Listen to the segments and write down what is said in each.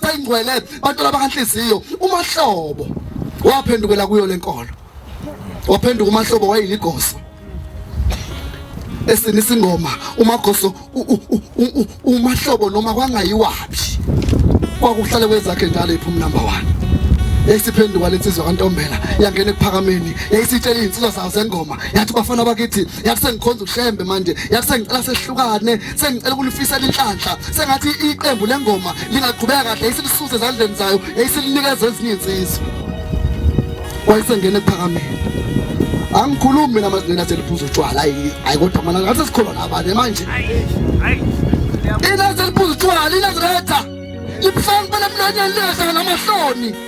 bayingcwele bantwana bakanhliziyo umahlobo waphendukela kuyo lenkolo waphenduka umahlobo wayiligosa esini singoma umagoso umahlobo noma kwangayiwaphi kwakuhlale kwezakhe njalo iphuma number 1 yayisiphenduka lensizwa kantombela yangena ekuphakameni yayisitshela izinsizwa zayo zengoma yathi bafana bakithi yathi sengikhonza ushembe manje yathi sengicela sehlukane sengicela ukunifisela inhlanhla sengathi iqembu lengoma lingaqhubeka kahle isilisuze ezandleni zayo yayisilinikeza ezinye insizwa wayisengene ephakameni angikhulumi mina manje nina seliphuza utshwala hayi kodwa mana ngathi sikholwa nabane manje ina seliphuza utshwala ina ziretha libuhlanga kuba nemlonyeni lingahlanganamahloni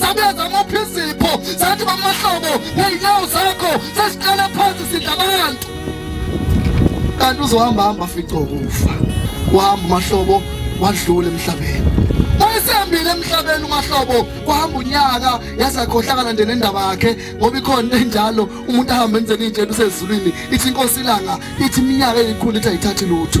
sabenza amaphi izipho sathi bamahlobo ney'nyawo zakho sesiqala phansi sidla abantu kanti uzohamba hamba fico kufa wahamba umahlobo wadlula emhlabeni wayesehambile emhlabeni umahlobo kwahamba unyaka yazakhohlakala nje nendaba yakhe ngoba ikhona enjalo umuntu ahamba enzeni injena usezulwini ithi inkosi ilanga ithi iminyaka eyikhulu ithi ayithathi lutho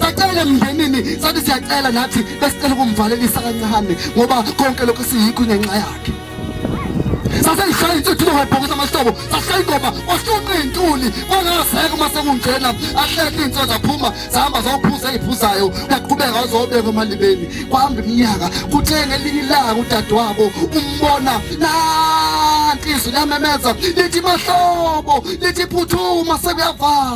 sacela emndenini sathi siyacela nathi besicela ukumvalelisa kancane ngoba konke lokhu siyikho ngenxa yakhe saseyishaya insuthu longayibhokisa amahlobo sashaya ingoma kwashunqa iy'ntuli kwangaseka uma sekungena ahleke iy'nso zaphuma zihamba zophuza ey'phuzayo uyaqhubeka wazobeka emalibeni kwahamba iminyaka kuthe ngelinye ilanga udadewabo umbona nanti izwi lamemeza lithi mahlobo lithi phuthuma sekuyavala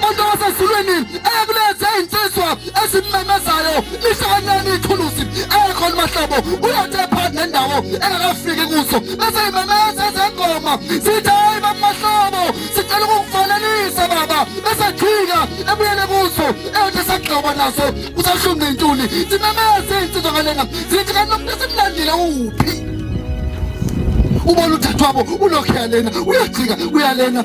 Kodwa wasezulwini eyakuleza izinsizwa ezimmemezayo lihlanganyana ithuluzi ekhona mahlobo uyathe phakathi nendawo engakafiki kuso bese imemeza ezengoma sithi hayi bamahlobo sicela ukukufanelisa baba bese jika ebuyele kuso eyothi sagxoba naso kusashunqa intuli simemeze izinsizwa ngalena sithi kanti umuntu esimlandile uphi ubona uthathwabo ulokhu yalena uyajika uyalena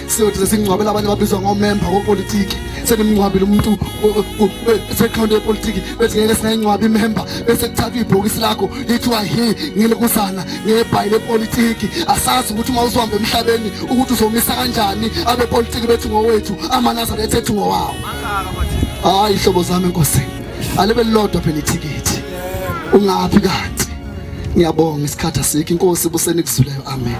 siyothi sesingcwabela abanye babizwa ngomemba wopolitiki senimngcwabile umuntu sekhawunti yepolitiki bethi ngeke singayingcwabi imemba bese kuthathwa ibhokisi lakho lithiwa hi ngelikuzana ngebhayi lepolitiki asazi ukuthi uma uzohamba emhlabeni ukuthi uzomisa kanjani abepolitiki bethu ngowethu amanazaretha ethu ngowawo hayi hlobo zami enkosi alibe lilodwa phela ithikithi ungaphi kanti ngiyabonga isikhathi asikho inkosi busenikuzwileyo amen